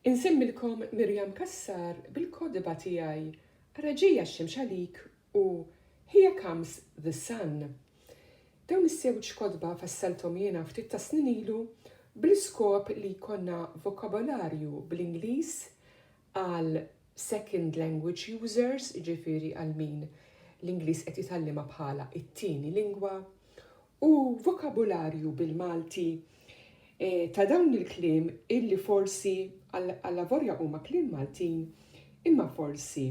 Insemmilkom Miriam Cassar bil-kotba tiegħi Ara ġejja x-xemx għalik u Here Comes the Sun. Dawn iż-żewġ kotba fassalthom jiena ftit tas-snin ilu bl-iskop li jkollna vokabolarju bl-Ingliż għal second language users, jiġifieri għal min l-Ingliż qed jitgħallimha bħala t-tieni lingwa, u vokabularju bil-Malti ta' dawn il-kliem illi forsi allavorja huma kliem Maltin imma forsi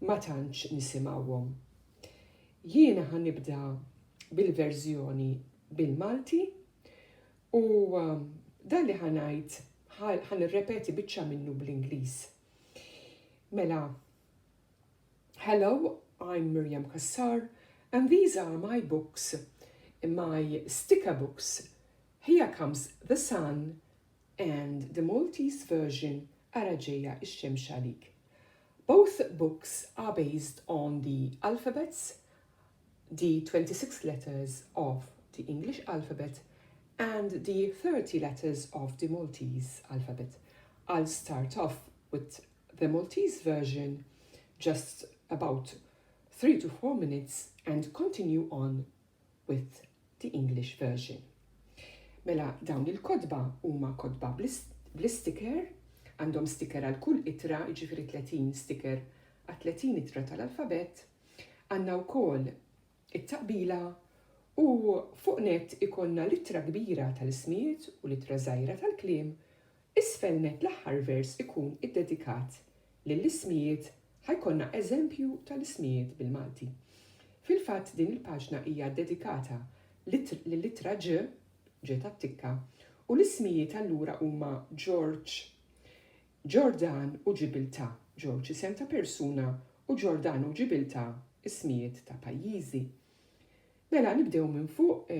ma tantx nisimgħuhom. Jiena ħa nibda bil-verżjoni bil-Malti U dan li ħa ngħid ħa nirrepeti biċċa minnu bl-Ingliż. Mela, Hello, I'm Miriam Kassar and these are my books, my sticker books. Here comes the sun and the Maltese version Ara ġejja ix-xemx għalik. Both books are based on the alphabets the 26 letters of the English alphabet and the 30 letters of the Maltese alphabet, I'll start off with the Maltese version just about 3 to 4 minutes and continue on with the English version. Mela dawn il-kodba huma kodba bl-sticker, għandhom sticker għal kull itra, jiġifieri 30 sticker għal 30 itra tal-alfabet, Għandna wkoll it-taqbila u fuq nett ikollna l-ittra kbira tal-ismijiet u l-ittra żgħira tal-kliem, isfel nett l-aħħar vers ikun iddedikat lill-ismijiet ħa jkollna eżempju tal-ismijiet bil-Malti. Fil-fatt din il-paġna hija ddedikata lill-ittra Ġ, Ġ tat-tikka, u l-ismijiet allura huma Ġorġ, Ġordan u Ġibiltà, Ġorġ isem ta' persuna u Ġordan u Ġibiltà ismijiet ta' pajjiżi. Mela nibdew minn fuq,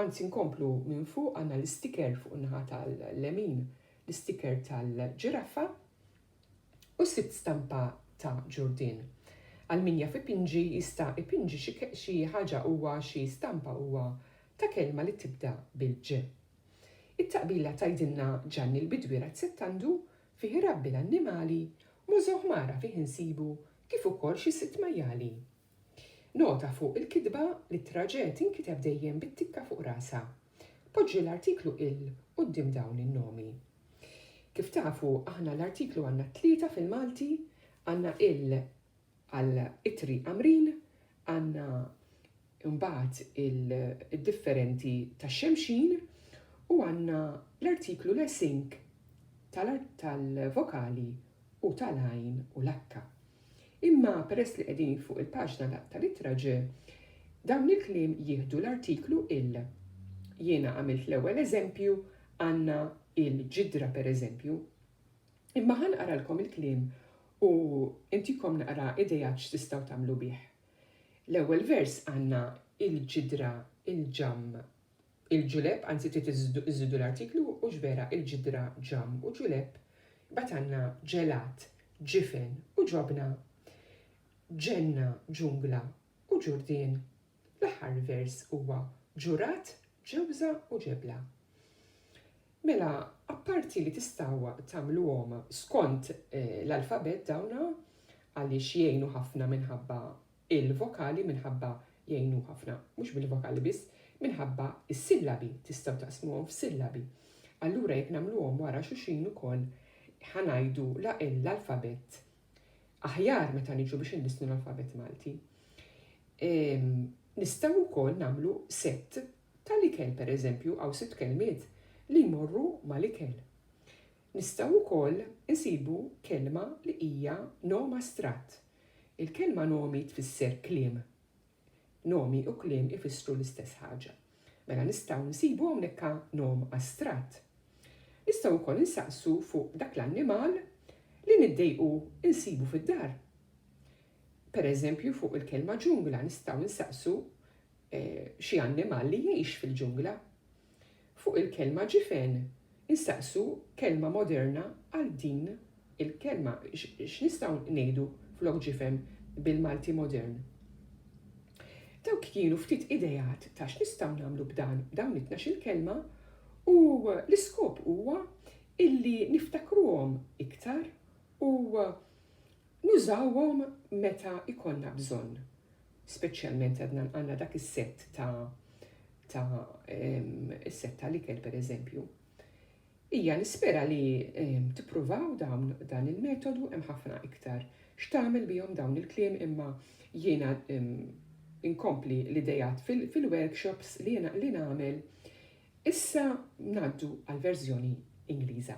anzi nkomplu minn fuq għandna l-istiker fuq in-naħa tal-lemin, l-istiker tal-ġiraffa u sitt stampa ta' Ġurdien. Għal min jaf ipinġi jista' ipinġi xi ħaġa huwa xi stampa huwa ta' kelma li tibda bil-ġ. It-taqbila tgħidilna Ġanni l-Bidwi Razzettandu fih irabbi l-annimali, Mosè Ħmara fih insibu kif ukoll xi sitt majjali. Nota fuq il-kitba li t-traġè tinkiteb dejjem bit-tikka fuq rasha. Poġġi l-artiklu il quddiem dawn in-nomi. Kif tafu aħna l-artiklu għandna tlieta fil-Malti, għandna il għal ittri Għamrin, għandna imbagħad id-differenti tax-xemxin u għandna l-artiklu l-esink tal-vokali u tal-għajn u l-akka. Imma peress li qegħdin fuq il-paġna tal-ittra ġ, dawn il-kliem jieħdu l-artiklu il. Jiena għamilt l-ewwel eżempju, għandna il-ġidra pereżempju. Imma ħa nqaralkom il-kliem u ntikom naqra ideat x'tistgħu tagħmlu bih. L-ewwel vers għandna il-ġidra, il-ġamm, il-ġulepp, anzi trid iżżidu l-artiklu u xbera il-ġidra, ġamm u ġulepp, imbagħad għandna ġelat, ġifen u ġobna, ġenna, ġungla u ġurdien. L-aħħar vers huwa ġurat, ġewża u ġebla. Mela, apparti li tistgħu tagħmluhom skont l-alfabett dawn għaliex jgħinu ħafna minħabba l-vokali, minħabba jgħinu ħafna, mhux bil-vokali biss, minħabba s-sillabi, tistgħu taqsmuhom f'sillabi. Allura jekk nagħmluhom wara xuxin ukoll ħa ngħidu l-alfabett aħjar meta niġu biex inlissnu l-alfabett Malti. Nistgħu wkoll nagħmlu sett Tal-ikel, per eżempju, hawn sitt kelmiet li jmorru mal-ikel. Nistgħu wkoll insibu kelma li hija nom astratt. Il-kelma nomi tfisser kliem. Nomi u kliem ifissru l-istess ħaġa. Mela nistgħu nsibu hawnhekk nom astratt. Nistgħu wkoll insaqsu fuq dak l-annimal li niddejqu nsibu fid-dar. Per eżempju, fuq il-kelma ġungla nistgħu nsaqsu xi annimal li jgħix fil-ġungla. Fuq il-kelma ġifen insaqsu kelma moderna għal din il-kelma. X'nistgħu ngħidu flok ġifen bil-Malti modern? Dawk kienu ftit ideat ta' x'nistgħu nagħmlu b'dan b'dawn it-tnax-il kelma u l-iskop huwa illi niftakruhom iktar u Nużawhom meta jkollna bżonn, speċjalment għadna għandna dak is-sett ta' ta' is-sett tal-ikel pereżempju. Hija nispera li tippruvaw dawn dan il-metodu hemm ħafna iktar x'tagħmel bihom dawn il-kliem imma jiena inkompli l-idejat fil-workshops li jiena li nagħmel. Issa ngħaddu għall-verżjoni Ingliża.